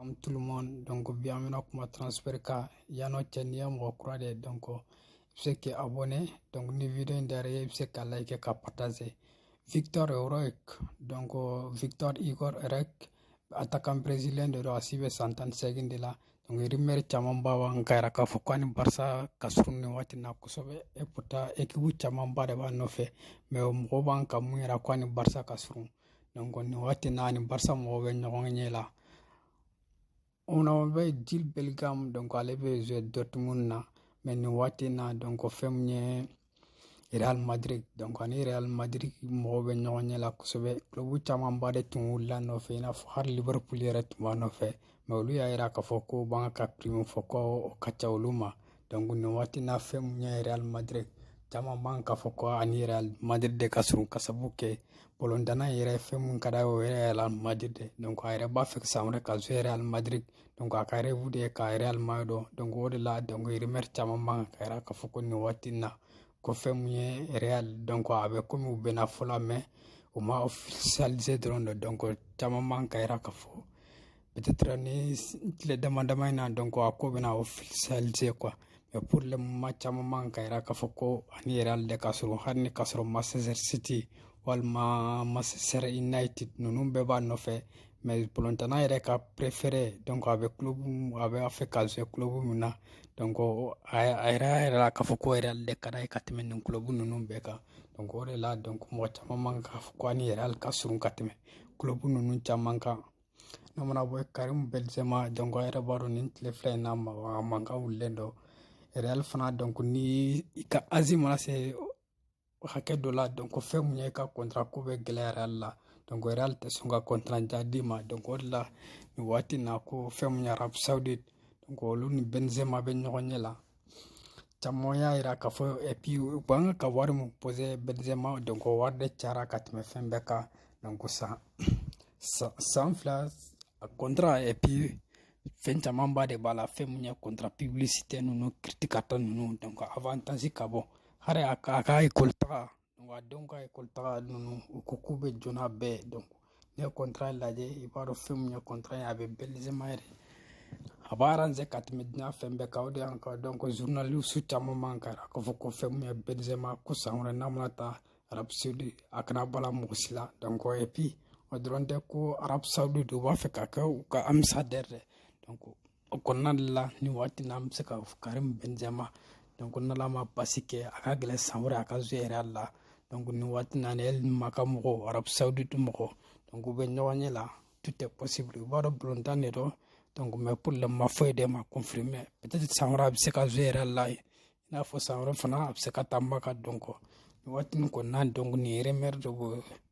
Comme tout le monde, donc bienvenue à kuma transfert ka yano cɛ n'i ye mɔgɔ kura de ye donc i bɛ se k'i abonné donc ni video in diyara i ye i bɛ se ka like ka partager Vitor Roque donc Vitor Hugo Roque attaquant brésilien de don a si bɛ san tan ni seegin de la donc rumeur caman ba b'an ka yira k'a fɔ ko a ni Barca ka surun nin waati in na kosɛbɛ et pourtant équipe camanba de b'a nɔfɛ mais mɔgɔw b'an ka mun yira ko a ni Barca ka surun nin waati na a ni Barca mɔgɔw bɛ ɲɔgɔn ɲɛ la ona bɛ jude bellingham donc ale bɛ joué dortmund na mais nin waati na donc fɛn min ye real madrid donc a ni real madrid mɔgɔw bɛ ɲɔgɔn ɲɛ la kosɛbɛ clubu camanba de tun wulila a nɔfɛ i n'a fɔ hali liverpool yɛrɛ tun b'a nɔfɛ mais olu y'a yira k'a fɔ ko b'an ka prix min fɔ ko o ka ca olu ma donc nin waati na fɛn mun ye real madrid caman b'an k'a fɔ ko a ni real madrid de ka surun ka sabu kɛ balɔntanna yɛrɛ fɛn mun ka d'a ye o ye real madrid de donc a yɛrɛ b'a fɛ san wɛrɛ ka jouer real madrid donc a ka rêve de ye ka real madrid dɔn donc o de la donc rumeur caman b'an ka yira k'a fɔ ko nin waati na ko fɛn mun ye real donc a bɛ komi u bɛnna fɔlɔ mais u ma officialiser dɔrɔn de donc caman b'an ka yira k'a fɔ peut-être nin tile dama dama in na donc a ko bɛna officialiser quoi mais pour le moment caman b'an ka yira k'a fɔ ko a ni real de ka surun hali ni ka sɔrɔ Manchester City walima Manchester United ninnu bɛɛ b'a nɔfɛ mais balɔntanna yɛrɛ ka préféré donc a bɛ club a bɛ a fɛ ka jouer club min na donc a yɛrɛ y'a yira k'a fɔ ko real de ka d'a ye ka tɛmɛ nin club ninnu bɛɛ kan donc o de la donc mɔgɔ caman b'an k'a fɔ ko a ni real ka surun ka tɛmɛ club ninnu caman kan N'an mana bɔ yen Karim Benzema donc aw yɛrɛ b'a dɔn nin tile fila in na a mankan wulilen don real fana donc ni i ka âge mana se hakɛ dɔ la donc fɛn mun ye i ka kɔntara ko bɛ gɛlɛya real la donc real tɛ sɔn ka kɔntara jan d'i ma donc o de la nin waati na ko fɛn mun ye arabie saoudite donc olu ni Benzema bɛ ɲɔgɔn ɲɛ la caman y'a yira k'a fɔ et puis u b'an ka ka wari mun poser Benzema donc o wari de cayara ka tɛmɛ fɛn bɛɛ kan donc san san fila kɔntara et puis fɛn camanba de b'a la fɛn mun ye kɔntara pibilisite ninnu kiritikata ninnu donc avantage ka bon hali a ka a ka ekɔli taga wa denw ka ekɔli taga ninnu u ko k'u bɛ jɔ n'a bɛɛ donc n'i ye kɔntara lajɛ i b'a dɔn fɛn min ye kɔntara ye a bɛ Benzema yɛrɛ a b'a aranze ka tɛmɛ diɲɛ fɛn bɛɛ kan o de y'an ka donc journaliste caman b'an ka yira k'a fɔ ko fɛn min ye Benzema ko san wɛrɛ n'a mana taa arabie saoudite a kana bala mɔgɔ si la donc et puis o dɔrɔn tɛ ko arabie saoudite u b'a fɛ k'a kɛ u ka ambasadɛri ye donc O kɔnɔna de la nin waati na an bɛ se ka Karim Benzema donc ko n'Ala ma basi kɛ a ka gɛlɛn san wɛrɛ a ka jouer Real la donc nin waati na ni El Maka mɔgɔw Arabie Saoudite mɔgɔw donc u bɛ ɲɔgɔn ɲɛ la tout est possible u b'a dɔn balontan de don donc mais pour le moment foyi de ma confirmer peut-être san wɛrɛ a bɛ se ka jouer Real la yen i n'a fɔ san wɛrɛ fana a bɛ se ka taa Maka donc nin waati nin kɔnɔna donc nin ye rumeur de b'o